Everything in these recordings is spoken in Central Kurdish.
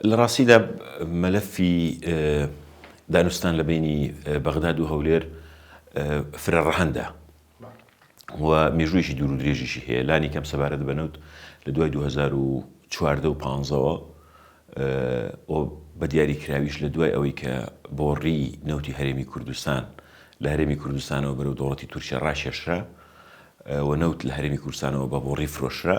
لە ڕاستیدا مەلەفی دانوستان لە بەینی بەغداد و هەولێر فرە ڕەهەندە و مێژوویەکی دوور و درێژیشی هەیە لانی کەم سەبارەت بە نەوت لە دوای 2014 و پانزەوە بە دیاری کراویش لە دوای ئەوەی کە بۆڕی نەوتی هەرێمی کوردستان لە هەرێمی کوردستانەوە بەرەو دەوڵەتی تورکیا ڕاکێشرا و نەوت لە هەرێمی کوردستانەوە بە بۆڕی فرۆشرا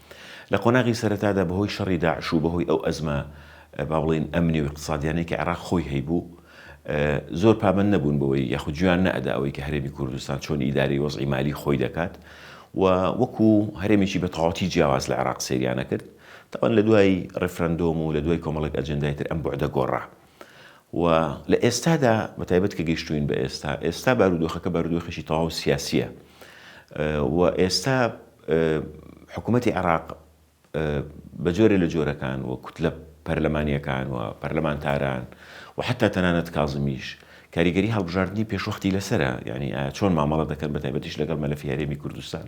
لە قۆناغی سەرەتادا بەهۆی شەڕی داعش و بەهۆی ئەو ئەزمە با بڵێین ئەمنی و ئیقتسادیانەی کە عێراق خۆی هەیبوو زۆر پابەند نەبوون بەوەی یاخود گوێیان نەئەدا ئەوەی کە هەرێمی کوردستان چۆن ئیدارەی وەزعی مالی خۆی دەکات و وەکو هەرێمێکی بە تەواوەتی جیاواز لە عێراق سەیریانە کرد تاوان لە دوای ڕیفرەندۆم و لە دوای کۆمەڵێک ئەجندای تر ئەم بوعدە گۆڕا و لە ئێستادا بە تایبەت کە گەیشتووین بە ئێستا ئێستا بارودۆخەکە بارودۆخێکی تەواو سیاسیە و ئێستا حکوومەتتی عێراق بە جۆرێ لە جۆرەکان و کوتلە پەرلەمانیەکان و پەرلەمانتاران و حتا تەنانەت کازمیش کاریگەری هەڵبژاردننی پێشوەختی لەسرە یعنی چۆن مامەڵە دەکەن بە تایبەتیش لەگەڵ مەلەفی هەرێمی کوردستان.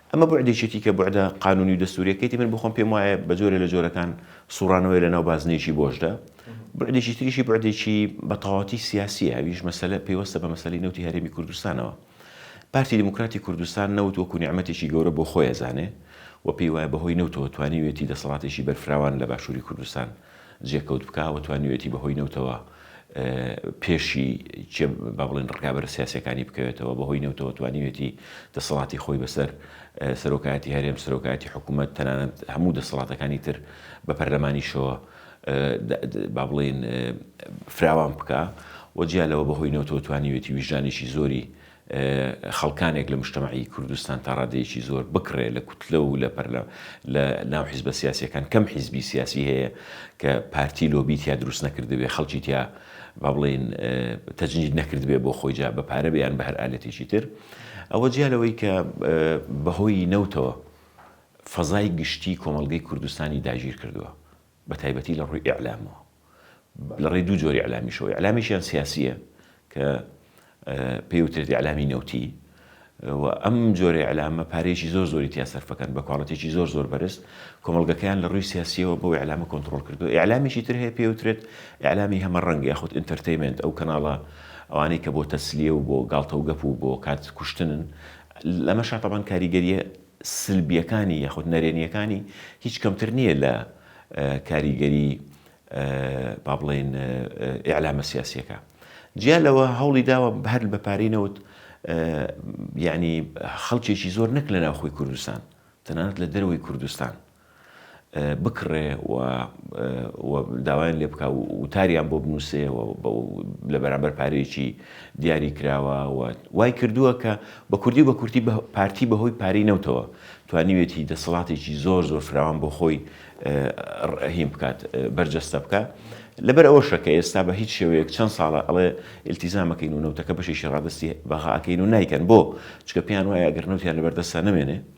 ئەمە بوعدێکیەتی کە بوعدە قانونی و دەستوریەکەیتی من بۆخۆم پێم وایە بە جۆرێ لە جۆرەکان سوڕانەوەی لەناو بازنەیەکی بۆشدا. بوعدێکی تریشی بوعدێکی بە تەواوەتی سیاسیە ئەویش مەسەلە پەیوەستە بە مەسەلەی نەوتی هەرێمی کوردستانەوە. پارتی دیموکراتی کوردستان نەوت وەکو نیعمەتێکی گەورە بۆ خۆی ئەزانێ و پێی وایە بە هۆی نەوتەوە توانیویەتی دەسەڵاتێکی بەرفراوان لە باشوری کوردستان جێکەوت بکا و توانیوێتی بەهۆی نەوتەوە پێشی چێ با بڵێن ڕکابەر سیاسەکانی بکەوێتەوە بەهۆی نەوتەوە توانیوێتی دەسەڵاتی خۆی بەسەر سەرۆکایەتی هەرێم سەرۆکایەتی حکوومەت تەنانەت هەموو دەسەڵاتەکانی تر بە پەرلەمانیشەوە با بڵێن فراوان بکە و جیا لەوە بەهۆی نەوتەوە توانیوێتی ویژانێکی زۆری خەڵکانێک لە مشتەمەعی کوردستان تا ڕادەیەکی زۆر بکڕێ لە کوتلە و لە پەرلە لە ناو حیزبە سیاسیەکان کەم حیزبی سیاسی هەیە کە پارتی لۆبی تیا دروست نەکردبێ خەڵکی تیا با بڵێین تەجنید نەکردبێ بۆ خۆی جا بە پارە بیان بە هەر ئالەتێکی تر ئەوە جیا لەوەی کە بەهۆی نەوتەوە فەزای گشتی کۆمەڵگەی کوردستانی داگیر کردووە بە تایبەتی لە ڕووی ئیعلامەوە، لە ڕێی دوو جۆری ئیعلامیشەوە، ئیعلامیشیان سیاسییە کە پێی وترێت ئیعلامی نەوتی و ئەم جۆرە ئیعلامە پارەیەکی زۆر زۆری تیا سەرف دەکەن بە کواڵیتێکی زۆر زۆر بەرز، کۆمەڵگەکەیان لە ڕووی سیاسییەوە بەو ئیعلامە کۆنتڕۆڵ کردووە، ئیعلامیکی تر هەیە پێی وترێت ئیعلامی هەمەڕەنگ یاخود ئینتەرتەیمێنت، ئەو کەناڵە ئەوانەی کە بۆ تەسلیە و بۆ گاڵتە و گەپ و بۆ کات کوشتنن، لەمەشا تەبعەن کاریگەرییە سلبیەکانی یاخود نەرێنیەکانی هیچ کەمتر نیە لە کاریگەری با بڵێین ئیعلامە سیاسیەکە جیا لەوە هەوڵی داوە هەر بە پارەی نەوت یعنی خەڵکێکی زۆر نەک لە ناوخۆی کوردستان تەنانەت لە دەروی کوردستان بکڕێ و و داوایان لێ بکا و وتاریان بۆ بنووسێ و لە بەرامبەر پارەیەکی دیاری کراوە و وای کردووە کە بە کوردی و بە کورتی پارتی بە هۆی پارەی نەوتەوە توانیوێتی دەسەڵاتێکی زۆر زۆر فراوان بۆ خۆی ڕهین بکات بەرجەستە بکا لەبەر ئەوەشە کە ئێستا بە هیچ شێوەیەک چەند ساڵە ئەڵێ ئیلتیزامەکەین و نەوتەکە بەشێکی ڕادستی بەغاکەین و نایکەن بۆ چکە پێیان وایە گەر نەوتیان لەبەردەستە نەمێنێ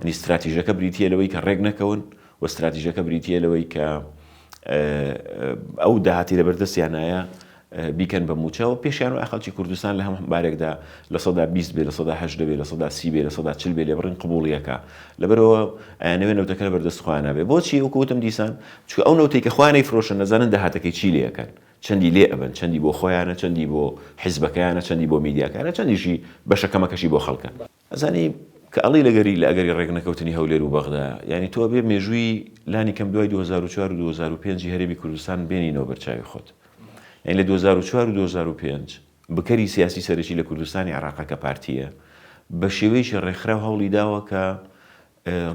یانی ستراتیژەکە بریتییە لەوەی کە ڕێک نەکەون و ستراتیژەکە بریتییە لەوەی کە ئەو داهاتی لە بەردەستیانایە بیکەن بە موچەوە پێشیان و ئەخەڵکی کوردستان لە هەم بارێکدا لە سەدا 20 بێ لە سەدا هە دەبێ لە سەدا سی بێ لە سەدا چل بێ لێ بڕین قوبولیەکە لەبەرەوە ئەیانەوێ نەوتەکە لە بەردەست خوانە بێ بۆچی وکوتم دیسان چکە ئەو نەوتی کە خوانەی فرۆشن نەزانن داهاتەکەی چی لەکەن چەندی لێ ئەبن چەندی بۆ خۆیانە چەندی بۆ حیزبەکەیانە چەندی بۆ میدیاکانە چەندیشی بەشەکەمەکەشی بۆ خەڵکە ئەزانی کە ئەڵێی لە گەری لە ئەگەری ڕێک نەکەوتنی هەولێر و بەغدا یانی تۆ ئەبێ مێژووی لانی کەم دوای دوو هەزار و چوار و دوو هەزار و پێنج ی هەرێمی کوردستان بێنینەوە بەر چاوی خۆت یانی لە دوو هەزار و چوار و دوو هەزار و پێنج بکەری سیاسی سەرەکی لە کوردستانی عێڕاقە کە پارتیە بە شێوەیەکی ڕێکخراو هەوڵی داوە کە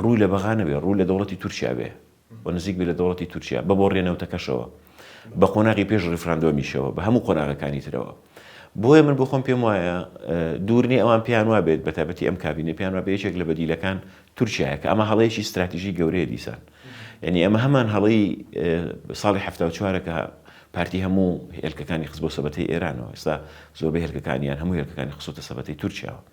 ڕووی لە بەغا نەبێ، ڕوو لە دەوڵەتی تورکیا بێ و نزیک بێ لە دەوڵەتی تورکیا، بە بۆڕییە نەوتەکەشەوە، بە قۆناغی پێش ڕیفراندۆمیشەوە، بە هەموو قۆناغەکانی ترەوە. بۆیە من بۆ خۆم پێم وایە دوور نییە ئەوان پێیان وا بێت، بە تایبەتی ئەم کابینەی پێیان وا بێ یەکێک لە بەدیلەکان تورکیایە، کە ئەمە هەڵەیەکی ستراتیژی گەورەیە دیسان. یانی ئەمە هەمان هەڵەی ساڵی حەفتا و چوارە کە پارتی هەموو هێلکەکانی خست بۆ سەبەتەی ئێرانەوە، ئێستا زۆربەی هێلکەکانیان هەموو هێلکەکانی خستۆتە سەبەتەی تورکیاوە.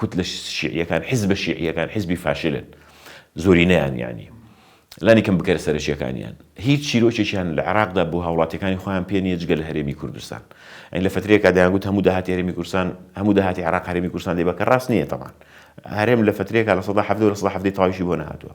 کوتلە شیعیەکان، حزبە شیعیەکان حزبی فاشلن زۆرینەیان یانی لانی کەم بکەرە سەرەکیەکانیان هیچ چیرۆکێکیان لە عێراقدا بۆ هاوڵاتیەکانی خۆیان پێ نیە جگە لە هەرێمی کوردستان ئەین لە فترێکا دەیانگوت هەموو داهاتی هەرێمی کوردستان هەموو داهاتی عێراق هەرێمی کوردستان دەبە کە ڕاست نیە تەمان هەرێم لە فترێکا لە سەدا حەڤدە و لە سەدا حەڤدەی تەواویشی بۆ نەهاتووە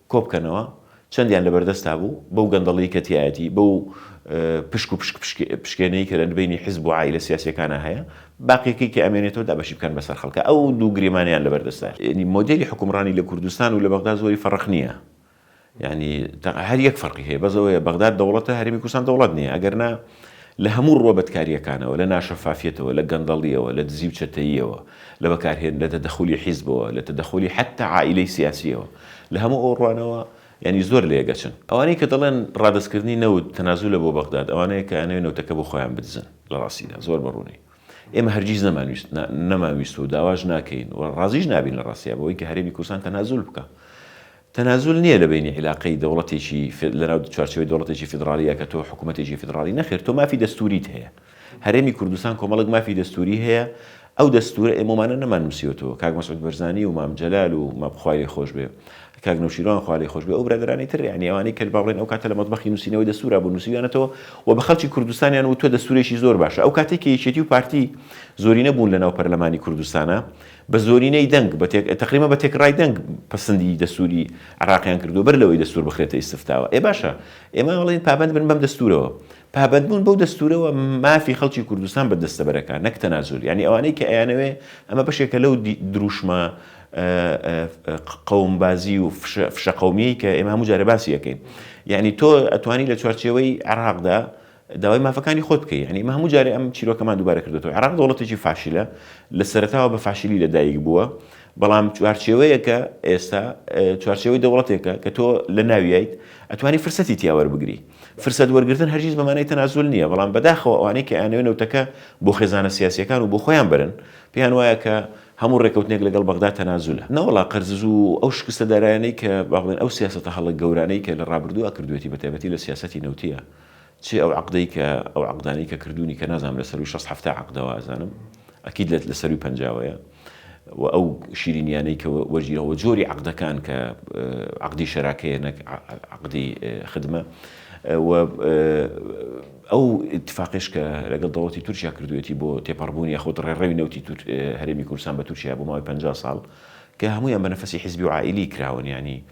کۆبکەنەوە، چەندیان لەبەردەستدا بوو، بەو گەندەڵیەی کە تیایەتی، بەو پشک و پشک پشکێنەی کە لەنبەینی حزب و عائیلە سیاسیەکانا هەیە، باقیەکەی کە ئەمێنێتەوە دابەشی بکەن بەسەر خەڵکا، ئەو دوو گریمانەیان لەبەردەستدا. یەعنی مۆدێلی حوکمڕانی لە کوردستان و لە بەغدا زۆری فەڕق نیە، یەعنی هەر یەک فەرقی هەیە بەس ئەوەیە بەغداد دەوڵەتە هەرێمی کوردستان دەوڵەت نیە، ئەگەرنا لە هەموو ڕووە بەدکارییەکانەوە، لە ناشەفافیەتەوە، لە گەندەڵییەوە، لە دزی و چەتەییەوە، لە بەکارهێن، لە تەدەخولی حیزبەوە، لە تەدەخولی حەتتا عائیلەی سیاسییەوە، لە هەموو ئەو ڕوانەوە یانی زۆر لەیەکئەچن. ئەوانەی کە دەڵێن ڕادەستکردنی نەوت تەنازولە بۆ بەغداد، ئەوانەیە کە ئەیانەوێ نەوتەکە بۆ خۆیان بدزن. لە ڕاستیدا زۆر بە ڕوونی ئێمە هەرگیز نەمانویست، نا، نەمانویست و داواش ناکەین و ڕازیش نابین لە ڕاستیا بەوەی کە هەرێمی کوردستان تەنازول بکا تەنازول نیە لە بەینی عیلاقەی دەوڵەتێکی فێد لە ناو چوارچێوەی دەوڵەتێکی فیدڕاڵیە کە تۆ حکومەتێکی فیدڕاڵی نەخێر تۆ مافی دەستوریت هەیە هەرێمی کوردستان کۆمەڵک مافی دەستوری هەیە ئەو دەستورە ئێمە ومانە نەمان نوسیۆتەوە کاک مەسعود بەرزانی و مام جەلال و مام خوای لێ خۆش بێ کاک نەوشیروان خوا لێی خۆش بێ ئەو برادەرانی تر یانی ئەوانەی کە با بڵێن ئەو کاتە لە مەتبەخی نوسینەوەی دەستورا بوون نوسیویانەتەوە و بە خەڵکی کوردستانیان وتوە دەستورێکی زۆر باشە ئەو کاتەی کە یەکێتی و پارتی زۆرینە بوون لە ناو پەرلەمانی کوردستانا بە زۆرینەی دەنگ، تەقریبەن بە تێکڕای دەنگ پەسندی دەستووری عێراقیان کردووە بەر لەوەی دەستوور بخرێتە ئیستفتاوە. ئێ باشە ئێمە ئەڵێین پابەند بن بەم دەستوورەوە. پابەندبوون بەو دەستوورەوە مافی خەڵکی کوردستان بە دەستە بەرەکان نەک تەنازول. یانی ئەوانەی کە ئەیانەوێ ئەمە بەشێکە لەو درووشمە قەومبازی و فشە قەومییەی کە ئێمە هەموو جارێ باسی ئەکەین. یانی تۆ ئەتوانی لە چوارچێوەی عێراقدا داوای مافەکانی خۆت بکەی یانی ئمە هەموو جارێ ئەم چیرۆکەمان دووبارە کردۆتەوە عێراق دەوڵەتێکی فاشلە لە سەرەتاوە بە فاشلی لە دایک بووە بەڵام چوارچێوەیەکە ئێستا چوارچێوەی دەوڵەتێکە کە تۆ لە ناویایت ئەتوانی فرسەتی تیاوەەر بگری فرسەت وەرگتن هەرگیز بەمانەی تەنازول نییە بەڵام بەداخەوە ئەوانەی کە ئەیانەوێ نەوتەکە بۆ خێزانە سیاسیەکان و بۆ خۆیان برن پێیان وایە کە هەموو ڕێکەوتنێک لەگەڵ بەغدا تەنازولە نەوەڵا قەرزز و ئەو شکستە دارایانەی کە باڵێن ئەو سیاستە هەڵە گەورانەی کە لە ڕابردووە کردوێتی بەتابەتی لە سیاستی نەوتە چی ئەو عەقدەی کە ئەو عەقدانەی کە کردوونی کە نازانم لە سەرووی شەست حەفتا عەقدەوە ئەزانم ئەکید لە لە سەرووی پەنجاوەیە و ئەو شیرینیانەی کە وەرگیرا وە جۆری عەقدەکان کە عەقدی شەراکەیە نەک عەقدی خدمە و ئەو اتفاقش کە لەگەڵ دەوڵەتی تورکیا کردوێتی بۆ تێپەڕبوونی یاخود ڕێڕەوی نەوتی هەرێمی کوردستان بە تورکیا بۆ ماوەی 50 ساڵ کە هەموویان بە نەفەسی حیزبی و عائیلی کراون یعنی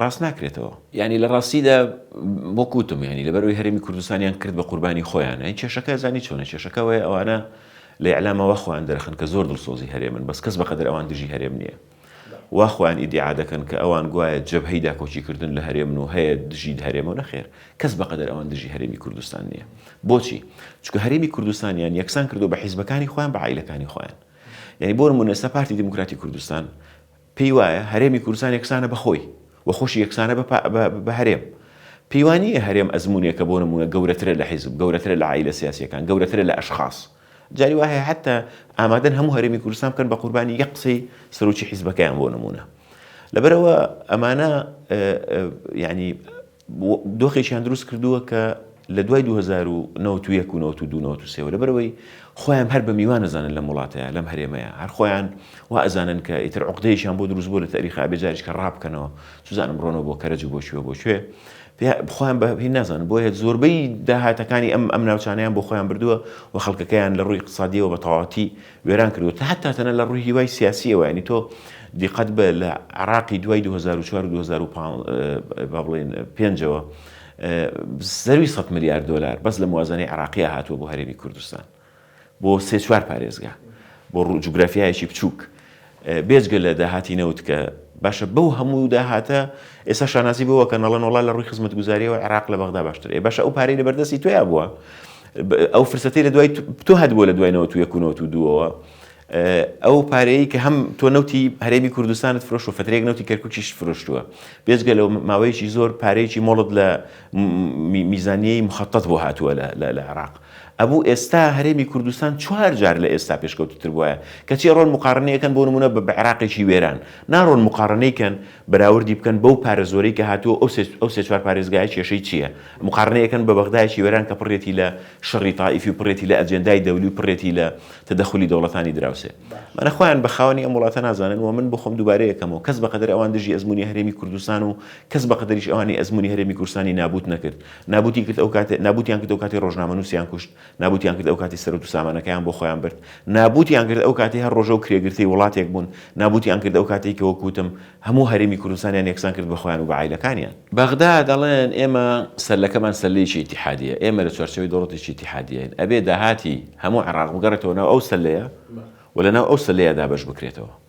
ڕاست ناکرێتەوە. یانی لە ڕاستیدا وەک وتم یانی لەبەر ئەوی هەرێمی کوردستانیان کرد بە قوربانی خۆیان ئەی کێشەکە زانی چۆنە کێشەکە ئەوەیە ئەوانە لە ئیعلام وا خۆیان دەرەخەن کە زۆر دڵسۆزی هەرێمن بەس کەس بەقەدەر ئەوان دژی هەرێم نییە وا خۆیان ئیدیعا دەکەن کە ئەوان گوایە جەبهەی داکۆکیکردن لە هەرێمن و هەیە دژی هەرێم و نەخێر کەس بەقەدەر ئەوان دژی هەرێمی کوردستان نییە بۆچی چونکە هەرێمی کوردستانیان یەکسان کردووە بە حیزبەکانی خۆیان بە عائیلەکانی خۆیان یانی بۆ نموونە ئێستا پارتی دیموکراتی کوردستان پێی وایە هەرێمی کوردستان یەکسانە بە خۆی و خۆشی یەکسانە بە هەرێم. پێی وا نییە هەرێم ئەزموونێکە بۆ نموونە گەورەترە لە حیزب، گەورەترە لە عائیلە سیاسییەکان، گەورەترە لە ئەشخاس. جاری وا هەیە حەتتا ئامادەن هەموو هەرێمی کوردستان بکەن بە قوربانی یەک قسەی سەرۆکی حیزبەکەیان بۆ نموونە. لەبەرئەوە ئەمانە یانی دۆخێکیان دروست کردووە کە لە دوای دوو هەزار و نەوەد و یەک و نەوەد و دوو نەوەد و سێ وە لەبەر ئەوەی خۆیان هەر بە میوان ئەزانن لەم وڵاتەیا لەم هەرێمەیا هەر خۆیان وا ئەزانن کە ئیتر عوقدەیەکیان بۆ دروست بووە لە تاریخا ئەبێ جاریش کە ڕا بکەنەوە چوزانم بڕۆنەوە بۆ کەرەج و بۆ کوێ و بۆ کوێ پێ خۆیان بە هی نازانن بۆیە زۆربەی داهاتەکانی ئەم ئەم ناوچانەیان بۆ خۆیان بردووە و خەڵکەکەیان لە ڕووی اقتصادیەوە بە تەواوەتی وێران کردوە تا حەتا تەنە لە ڕووی هیوای سیاسیەوە یانی تۆ دیقەت بە لە عراقی دوای دوو هەزار و چوار و دوو هەزار و پانز با بڵێن پێنجەوە زەوی سەد ملیار دۆلار بەس لە موازنەی عراقیە هاتووە بۆ هەرێمی کوردستان بۆ سێ چوار پارێزگا بۆ ڕوو جوگرافیایەکی بچووک بێجگە لە داهاتی نەوت کە باشە بەو هەموو داهاتە ئێستا شانازی بەوە کەن ئەڵێن وەڵا لە ڕووی خزمەتگوزاریەوە عێراق لە بەغدا باشترە ئێ باشە ئەو پارەی لە بەردەستی تۆیا بووە ئەو فرسەتەی لە دوای تۆ هەبووە لە دوای نەوت و یەک و نەوت و دووەوە ئەو پارەیە کە هەم تۆ نەوتی هەرێمی کوردستانت فرۆش و فترێک نەوتی کەرکوچیش فرۆشتووە بێجگە لەو ماوەیەکی زۆر پارەیەکی مۆڵت لە میزانیەی مخەتەت بۆ هاتووە لە عێراق. ئەبوو ئێستا هەرێمی کوردستان چوار جار لە ئێستا پێشکەوتووتر بوایە. کەچی ئەڕۆن موقارەنەی ئەکەن بۆ نموونە بە عێراقێکی وێران. ناڕۆن موقارەنەی کەن بەراوردی بکەن بەو پارە زۆرەی کە هاتووە ئەو سێ چوار پارێزگایە کێشەی چییە؟ موقارەنەی ئەکەن بە بەغدایەکی وێران کە پڕێتی لە شەڕی تائیفی و پڕێتی لە ئەجێندای دەولی و پڕێتی لە تەدەخولی دەوڵەتانی دراوسێ. مەنە خۆیان بە خاوەنی ئەم وڵاتە نازانن و من بۆ خۆم دووبارەی ئەکەمەوە کەس بە قەدەر ئەوان دژی ئەزموونی هەرێمی کوردستان و کەس بە قەدریش ئەوانەی ئەزموونی هەرێمی کوردستانی نابووت نەکرد، نابووتی کرد ئەو کاتێ، نابووتیان کرد ئەو کاتێ ڕۆژنامەنووسیان کوشت، نابووتیان کرد ئەو کاتێ سەروەت و سامانەکەیان بۆ خۆیان برد، نابووتیان کرد ئەو کاتێ هەر ڕۆژە و کرێگرتەی وڵاتێک بوون، نابووتیان کرد ئەو کاتەی کە وەک وتم هەموو هەرێمی کوردستانیان یەکسان کرد بە خۆیان و بە عایلەکانیان. بەغدا دەڵێن ئێمە سەرلەکەمان سەرلێیەکی ئیتیحادییە، ئێمە لە چوارچێوەی دەوڵەتێکی ئیتیحادییەین، ئەبێ داهاتی هەموو عێڕاق بگەڕێتەوە ناو ئەو سەللەیە و لە ناو ئەو سەللەیە دابەش بکرێتەوە.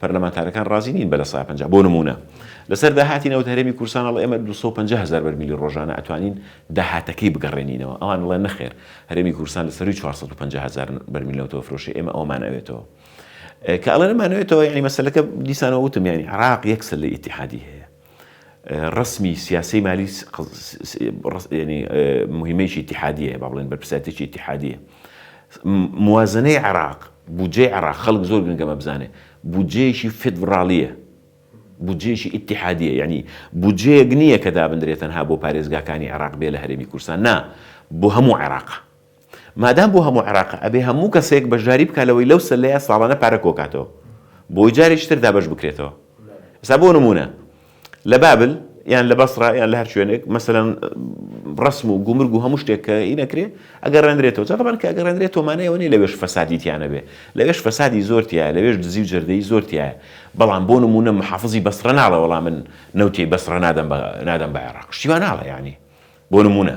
پەرلەمانتارەکان رازی نین بە لە سەدا پەنجا بۆ نموونە لەسەر داهاتی نەوت هەرێمی کوردستان ئەڵێ ئێمە دوو سەد و پەنجا هەزار بەرمیلی رۆژانە ئەتوانین داهاتەکەی بگەڕێنینەوە ئەوان ئەڵێن نەخێر هەرێمی کوردستان لە سەرووی چوار سەد و پەنجا هەزار بەرمیل نەوت ئەفرۆشێ ئێمە ئەوەمان ئەوێتەوە کە ئەڵێن ئەمانەوێتەوە یانی مەسەلەکە دیسانەوە وتم یانی عراق یەک سلەی ئیتیحادی هەیە ڕەسمی سیاسەی مالی موهیمەیەکی ئیتیحادیەیە با بڵێن بەرپرسیارتێکی ئیتیحادیە. موازەنەی عێراق، بودجەی عێراق خەڵک زۆر گرنگە ئەمە بزانێ، بودجەیەکی فیدڕاڵیە، بودجەیەکی ئیتیحادیە، یانی بودجەیەک نییە کە دابنرێ تەنها بۆ پارێزگاکانی عێراق بێ لە هەرێمی کوردستان، نا، بۆ هەموو عێراقە. مادام بۆ هەموو عێراقە ئەبێ هەموو کەسێک بەشداری بکات لەوەی لەو سەلەیە ساڵانە پارە کۆکاتەوە بۆی جارێکی تر دابەش بکرێتەوە ئێستا بۆ نموونە لە بابل یان لە بەسڕە یان لە هەر شوێنێک مەسەلەن ڕسم و گومرگ و هەموو شتێک کە ئی نەکرێ ئەگەر ڕێنرێتەوە جاتەبان کە ئەگەر ڕێنرێت تۆمانە ئەوە نیە لەوێش فەسادی تیانە بێ لەوێش فەسادی زۆر تایە لەوێش دزی و جەردەی زۆر تایە بەڵام بۆ نمونە محافزی بەسڕە ناڵە وەڵام من نەوتی بەسڕە نادەم بە نادەم بە عێراق شتیوان ناڵە یعنی بۆ نمونە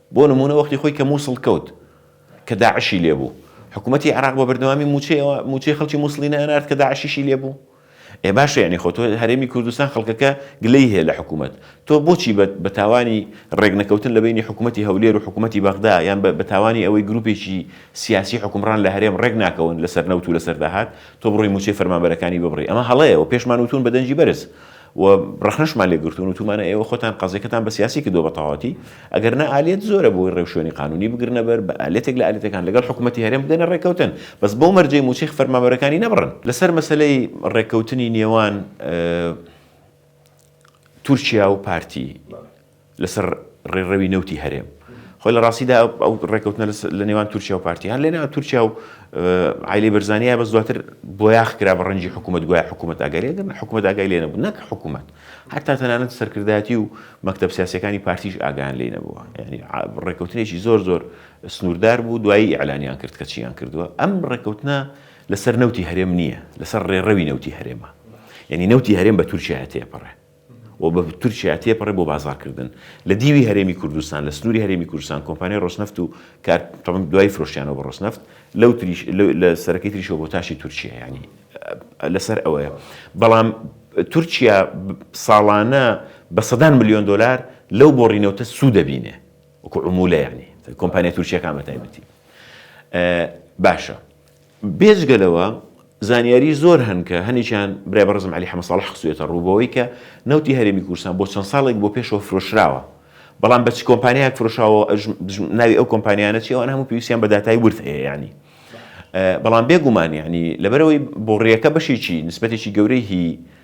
بۆ نموونە وەختی خۆی کە مووسڵ کەوت کە داعشی لێ بوو، حکوومەتی عێراق بە بەردەوامی مووچەی ئەوە، مووچەی خەڵکی مووسڵی نانارد کە داعشیشی لێ بوو؟ ئێ باشە یانی خۆ تۆ هەرێمی کوردستان خەڵکەکە گلەی هەیە لە حکوومەت، تۆ بۆچی بە بە تاوانی ڕێک نەکەوتن لە بەینی حکوومەتی هەولێر و حکوومەتی بەغدا یان بە بە تاوانی ئەوەی گرووپێکی سیاسی حوکمڕان لە هەرێم ڕێک ناکەون لە سەر نەوت و لە سەر داهات، تۆ بڕۆی مووچەی فەرمانبەرەکانی ببڕی؟ ئەمە هەڵەیە و پێشمان وتوون بە دەنگی بەرز و ڕەخنەشمان لێ گرتوون وتومانە ئێوە خۆتان قەزیەکەتان بە سیاسی کردووە بە تەواوەتی، ئەگەر نا ئالیەت زۆرە بۆی ڕێوشوێنی قانوونی بگرنە بەر، بە ئالیەتێک لە ئالیەتەکان لەگەڵ حکوومەتی هەرێم بگەنە ڕێککەوتن، بەس بەو مەرجەی مووچەی فەرمانبەرەکانی نەبڕن. لەسەر مەسەلەی ڕێککەوتنی نێوان تورکیا و پارتی، لەسەر ڕێڕەوی نەوتی هەرێم. خۆ لە ڕاستیدا ئەو ڕێکەوتنە لە نێوان تورکیا و پارتی هەر لێنا تورکیا و عیلی بەرزانیا بەس دواتر بۆیاخ کرا بە ڕەنجی حکوومەت گوای حکوومەت ئەگەرێ دەمە حکوومەت ئاگای لێ نەبوو نەک حکوومەت هەتا تەنانەت سەرکردایەتی و مەکتب سیاسەکانی پارتیش ئاگان لێ نەبووە ینی ڕێکەوتنێکی زۆر زۆر سنووردار بوو دوایی ئەلانیان کرد کە چیان کردووە ئەم ڕێکەوتنە لەسەر نەوتی هەرێم نییە لەسەر ڕێڕەوی نەوتی هەرێمە یعنی نەوتی هەرێم بە تورکیا تێپەڕێ و بە تورکیا تێپەڕێت بۆ بازاڕکردن لە دیوی هەرێمی کوردستان، لە سنووری هەرێمی کوردستان کۆمپانیای ڕۆسنەفت و کار تەبەن دوایی فرۆشتیانەوە بە ڕۆسنەفت لەو تریش لە سەرەکەی تریشەوە بۆ تاشی تورکیا یانی لەسەر ئەوەیە بەڵام تورکیا ساڵانە بە سەدان ملیۆن دۆلار لەو بۆڕینەوتە سوود دەبینێ وکو عمولە یانی کۆمپانیا تورکیەکان بە تایبەتی باشە بێجگە لەوە زانیاری زۆر هەن کە هەنێکیان برای بەڕێزم عەلی حەمە ساڵح خستوویەتە ڕوو بەوەی کە نەوتی هەرێمی کوردستان بۆ چەند ساڵێک بۆ پێشەوە فرۆشراوە بەڵام بە چ کۆمپانیایەک فرۆشاوە ناوی ئەو کۆمپانیانە چی ئەوان هەموو پێویستیان بە داتای ورد هەیە یانی بەڵام بێگومان یانی لەبەرەوەی بۆڕیەکە بەشێکی نسبەتێکی گەورەی هی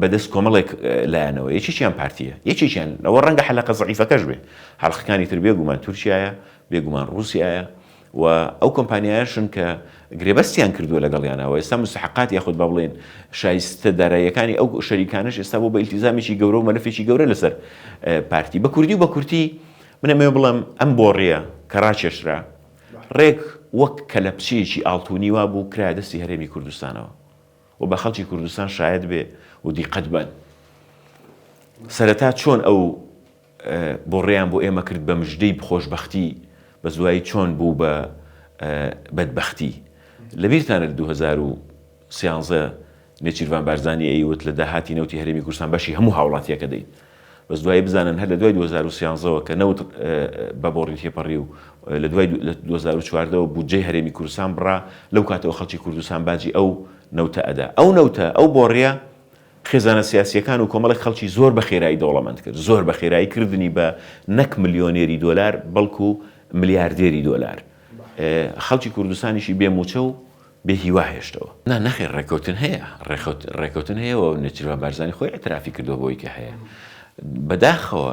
بەدەست کۆمەڵێک لایەنەوە یەکێکیان پارتییە یەکێکیان ئەوە ڕەنگە حەلەقە زەعیفەکەش بێ حەلقەکانی تر بێگومان تورکایە بێگومان ڕوسایە و ئەو کۆمپانیایشن کە گرێبەستیان کردووە لەگەڵیانەوە ئێستا مستحقات یاخود بە بڵێن شایستە داراییەکانی ئەو شەریکانش ئێستا بۆ بە ئیلتیزامێکی گەورە و مەلفێکی گەورە لەسەر پارتی بە کوردی و بە کورتی منەمێ بڵم ئەم بۆڕیە کە ڕاکێشرا ڕێک وەک کەلەپچەیەکی ئاڵتونی وا بوو کرا دەستی هەرێمی کوردستانەوە و بە خەڵکی کوردستان شایەت بێ و دیقەت بەن سەرەتا چۆن ئەو بۆڕێیان بۆ ئێمە کرد بە مژدەی بخۆشببختی بە زوایی چۆن بوو بە بەدبختی لە بیرتانە 2013 نێچیرڤان بارزانانی ئەیوت لە داهاتی نەوتی هەرێمی کوردستان بەشی هەموو هاوڵاتیەکە دەین بەس دوایی بزانن هەر لە دوای دوو هەزار و سیانزە وە کە نەوت بە بۆڕی تێپەڕی و لە دوای دوو هەزار و چواردە وە بودجەی هەرێمی کوردستان بڕا لەو کاتەوە خەڵکی کوردستان باجی ئەو نەوتە ئەدا ئەو نەوتە ئەو بۆڕیە خێزانە سیاسیەکان و کۆمەڵێک خەڵکی زۆر بە خێرایی دەوڵەمەند کرد زۆر بە خێرایی کردنی بە نەک ملیۆنێری دۆلار بەڵکو ملیاردێری دۆلار خەڵکی کوردستانیشی بێ موچە و بێ هیوا هێشتەوە. نا نەخێر ڕێکەوتن هەیە، ڕێکەوتن هەیە و نێچیرڤان بارزانی خۆی ئیعترافی کردووە بەوەی کە هەیە. بەداخەوە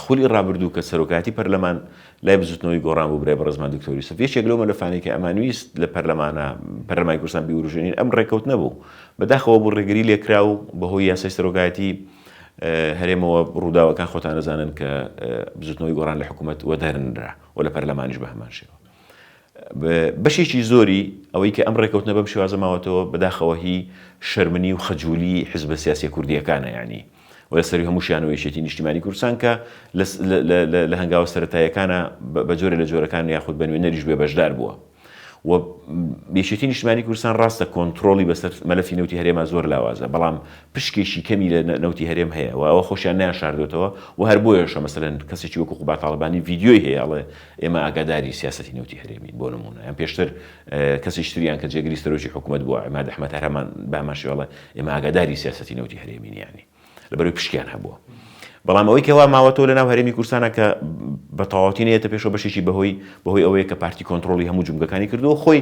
خولی ڕابردوو کە سەرۆکایەتی پەرلەمان لای بزووتنەوەی گۆڕان بوو برای بەڕێزمان دکتۆر یوسف یەکێک لەو مەلەفانەی کە ئەمان ویست لە پەرلەمانە پەرلەمانی کوردستان بیوروژێنین ئەم ڕێکەوتنە بوو بەداخەوە بوو ڕێگری لێکرا و بەهۆی یاسای سەرۆکایەتی هەرێمەوە ڕووداوەکان خۆتان دەزانن کە بزووتنەوەی گۆڕان لە حکوومەت وەدەرنرا و لە پەرلەمانیش بە هەمان شێوە. بەشێکی زۆری ئەوەی کە ئەم ڕێکەوتنە بەم شێوازە ماوەتەوە بەداخەوە هی شەرمنی و خەجولی حزبە سیاسیە کوردیەکانە یانی و لە سەروی هەمووشیانەوە یەکێتی نیشتیمانی کوردستان کە لە هەنگاوە سەرەتایەکانە بە جۆرە لە جۆرەکان یاخود بە نوێنەریش بێ بەشدار بووە و یەکێتی نیشتمانی کوردستان ڕاستە کۆنتترۆلی بەسەر مەلەفی نوتی هەرێما زۆر لاوازە بەڵام پشکێکی کەمی لە نوتی هەرێم هەیە و ئەوە خۆشیان نیان شاردوێتەوە و هەر بۆیەشە مەسەن کەسێکی وەکو قوباتاالبانی ڤیددیوی هەیەڵێ ئێمە ئاگاداری سیاسەتی نەوتی هەرێمین بۆ نموونە یان پێشتر کەسیش تریان کە جێگری سەرۆکی حکوومەت بووە ئەما دەحمەت هەرمان باماشیواڵە ئێمە ئاگاداری سیاسەتی نەوتی هەرێمینیانی لەبەروی پشکیان هەبووە بەڵام ئەوەی کەوا ماوەتەوە لە ناو هەرێمی کوردستانە کە بە تەواوەتی نێتە پێشەوە بەشێکی بەهۆی بەهۆی ئەوەیە کە پارتی کۆنتترۆلی هەموو جومگەکانی کردو خۆی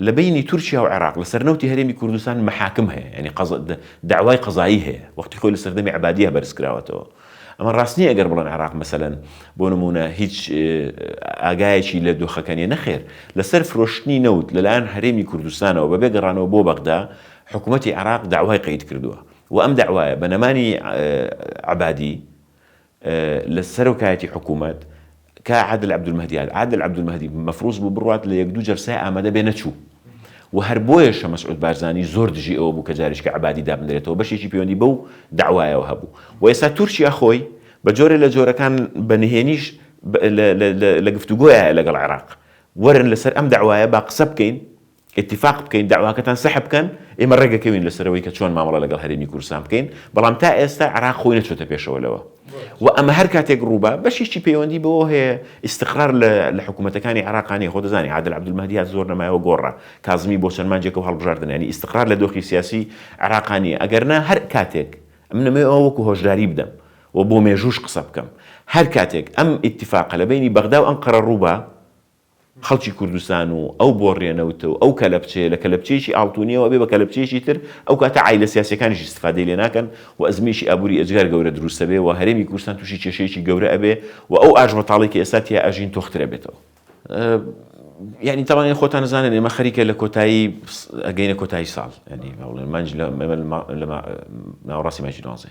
لە بەینی تورکیا و عێراق لە سەر نەوتی هەرێمی کوردستان مەحاکم هەیە یانی قەزا دەعوای قەزایی هەیە وەختی خۆی لە سەردەمی عەبادیە بەرز کراوەتەوە ئەمە ڕاست نیە گەر بڵێن عێراق مەسەلەن بۆ نمونە هیچ ئاگایەکی لە دۆخەکە نیە نەخێر لە سەر فرۆشتنی نەوت لەلایەن هەرێمی کوردستانەوە بە بێگەڕانەوە بۆ بەغدا حکوومەتی عێراق داوای قەید کردووە و ئەم داوایە بە نەمانی عەبادی لە سەرۆکایەتی حکوومەت، کا عادل عەبدولمەهدی هات، عادل عەبدولمەهدی مەفرووز بوو بڕوات لە یەک دوو جەلسای ئامادە بێ نەچوو و هەر بۆیەشە مەسعوود بارزانی زۆر دژی ئەوە بوو کە جاریشکە عەبادی دابنرێتەوە بەشێکی پەیوەندی بەو دەعوایەوە هەبوو و ئێستا تورکیا خۆی بە جۆرێ لە جۆرەکان بە نهێنیش لە گفتوگۆیایە لەگەڵ عێراق وەرن لە سەر ئەم دەعوایە با قسە بکەین ئیتیفاق بکەین دەعواکەتان سەح بکەن، ئێمە ڕێکدەکەوین لەسەرەوەی کە چۆن مامەڵە لەگەڵ هەرێمی کوردستان بکەین، بەڵام تا ئێستا عێراق خۆی نەچۆتە پێشەوە لەوە و ئەمە هەر کاتێک ڕووبا بەشیشی پەیوەندی بەوە هەیە ئیستقرار لە لە حکوومەتەکانی عێراقا نیە، خۆ دەزانی عادل عەبدولمەهدی هات زۆر نەمایەوە گۆڕا، کازمی بۆ چەند مانجێک و هەڵبژاردن یانی ئیستقرار لە دۆخی سیاسی عێراقا نیە، ئەگەر نا هەر کاتێک ئەمن ئەمەوێ ئەوە وەکوو هۆشداری بدەم و بۆ مێژووش قسە بکەم هەر کاتێک ئەم ئیتیفاقە لە بەینی بەغدا و ئەنقەرە ڕووبا، خەڵکی کوردستان و ئەو بۆڕیە نەوتە و ئەو کەلەپچەیە لە کەلەپچەیەکی ئاڵتونیەوە ئەبێ بە کەلەپچەیەکی تر ئەو کاتە عایلە سیاسیەکانیش ئیستفادەی لێ ناکەن و ئەزموونێکی ئابووری ئێجگار گەورە دروست ئەبێ و هەرێمی کوردستان تووشی کێشەیەکی گەورە ئەبێ و ئەو ئاژبەتاڵەی کە ئێستا تیا ئەژین تۆختر ئەبێتەوە. یانی تاوان خۆتان نزانن ئێمە خەریکە لە کۆتایی ئەگەینە کۆتایی ساڵ ینی مانج لە ناوەڕاستی ماجی دوانزێ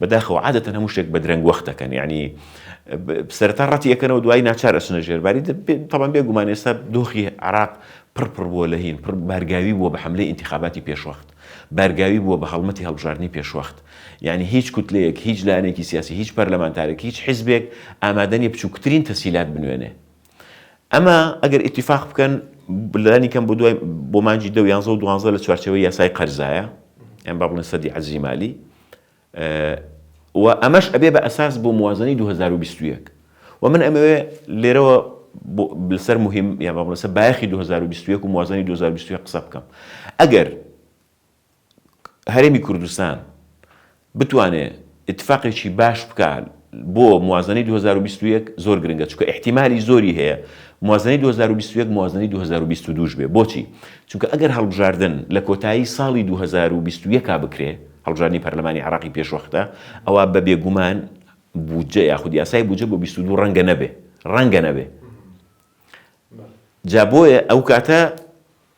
بەداخەوە عادەتەن هەموو شتێک بە درەنگ وەخت دەکەن یانی سەرەتا ڕەتی ئەکەنەوە دوای ناچار ئەچنە ژێر باری تەبان بێ گومان ئێستا دۆخی عراق پڕ پڕ بووە لە هین پڕ بارگاوی بووە بە حملەی ئینتخاباتی پێشوەخت بارگاوی بووە بە هەڵمەتی هەڵبژاردنی پێشوەخت یعنی هیچ کوتلەیەک هیچ لایەنێکی سیاسی هیچ پەرلەمانتارێک هیچ حیزبێک ئامادەنی بچووکترین تەسیلات بنوێنێ ئەمە ئەگەر ئیتیفاق بکەن لانی کەم بۆ دوای بۆ مانجی دە یانزە و دوانزە لە چوارچەوەی یاسای قەرزایە ئەم با بڵێن سەدی عەزی مالی و ئەمەش ئەبێ بە ئەساس بۆ موازنەی 2021 و من ئەمەوێ لێرەوە لەسەر مهم یا بەڵسە بایخی 2021 و موازنی 2020 قسە بکەم ئەگەر هەرێمی کوردستان بتوانێ ئیتفاقێکی باش بکا بۆ موازەنەی دوو هەزار و بیست و یەک زۆر گرنگە چونکە ئیحتیمالی زۆری هەیە موازەنەی دوو هەزار و بیست و یەک موازەنەی دوو هەزار و بیست و دوو ش بێ بۆچی چونکە ئەگەر هەڵبژاردن لە کۆتایی ساڵی دوو هەزار و بیست و یەک بکرێ هەڵبژاردنی پەرلەمانی عێراقی پێشوەختە ئەوا بە بێگومان بودجە یاخود یاسای بودجە بۆ بیست و دوو ڕەنگە نەبێ ڕەنگە نەبێ جا بۆیە ئەو کاتە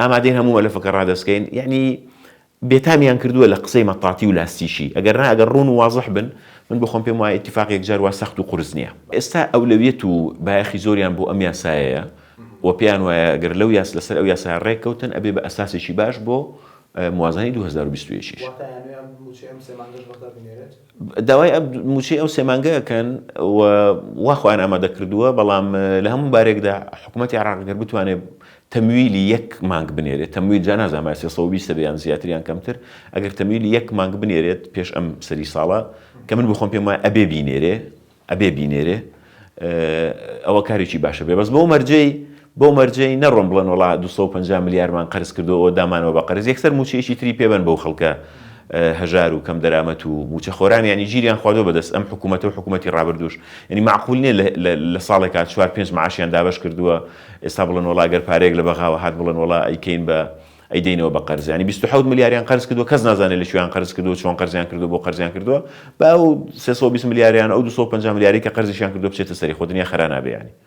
ئامادەین هەموو مەلەفەکە ڕادەستکەین یەعنی بێتامیان کردووە لە قسەی مەتاتی و لاستیشی ئەگەر نا ئەگەر ڕوون و وازح بن من بخۆم پێم وایە ئیتیفاق یەکجار وا سەخت و قورس نییە ئێستا ئەولەویەت و بایەخی زۆریان بۆ ئەم یاسایەیە و پێیان وایە گەر لەو یاس لەسەر ئەو یاسایە ڕێک کەوتن ئەبێ بە ئەساسێکی باش بۆ موازنەی دوو هەزار و بیست و یەک یش. داوای مووچەی ئەو سێ مانگە ئەکەن و وا خۆیان ئامادە کردووە، بەڵام لە هەموو بارێکدا حکومەتی عێراق گەر بتوانێ تەمویلی یەک مانگ بنێرێت، تەمویل جا نازانم ئایا سێ سەد و بیست ەبێ یان زیاتر یان کەمتر، ئەگەر تەمویلی یەک مانگ بنێرێت پێش ئەم سەری ساڵە، کە من بۆ خۆم پێم وایە ئەبێ بینێرێ، ئەبێ بینێرێ ئەوە کارێکی باشە بێ بەس بەو مەرجەی بەو مەرجەی نەڕۆن بڵێن وەڵا دوو سەد و پەنجا ملیارمان قەرز کردوەوە دامانەوە بە قەرز یەکسەر مووچەیەکی تری پێ بەن بەو خەڵکە هەژار و کەم دەرامەت و مووچەخۆرانیانی ژیریان خواردوە بەدەست ئەم حکوومەتە و حکوومەتی ڕابردووش یعنی مەعقول نیە لە ساڵێکا چوار پێنج معاشیان دابەش کردووە ئێستا بڵێن وەڵا گەر پارەیەک لە بەغاوە هات بڵێن وەڵا ئەیکەین بە ئەیدەینەوە بە قەرز یانی بیست و حەوت ملیاریان قەرز کردووە کەس نازانێت لە کوێیان قەرز کردووە چۆن قەرزیان کردووە بۆ قەرزیان کردووە با ئەو سێ سەد و بیست ملیاریان ئەو دوو سەد و پەنجا ملیارەی کە قەرزیشیان کردووە بچێتە سەری خۆ دنیا خەرا نابێ یانی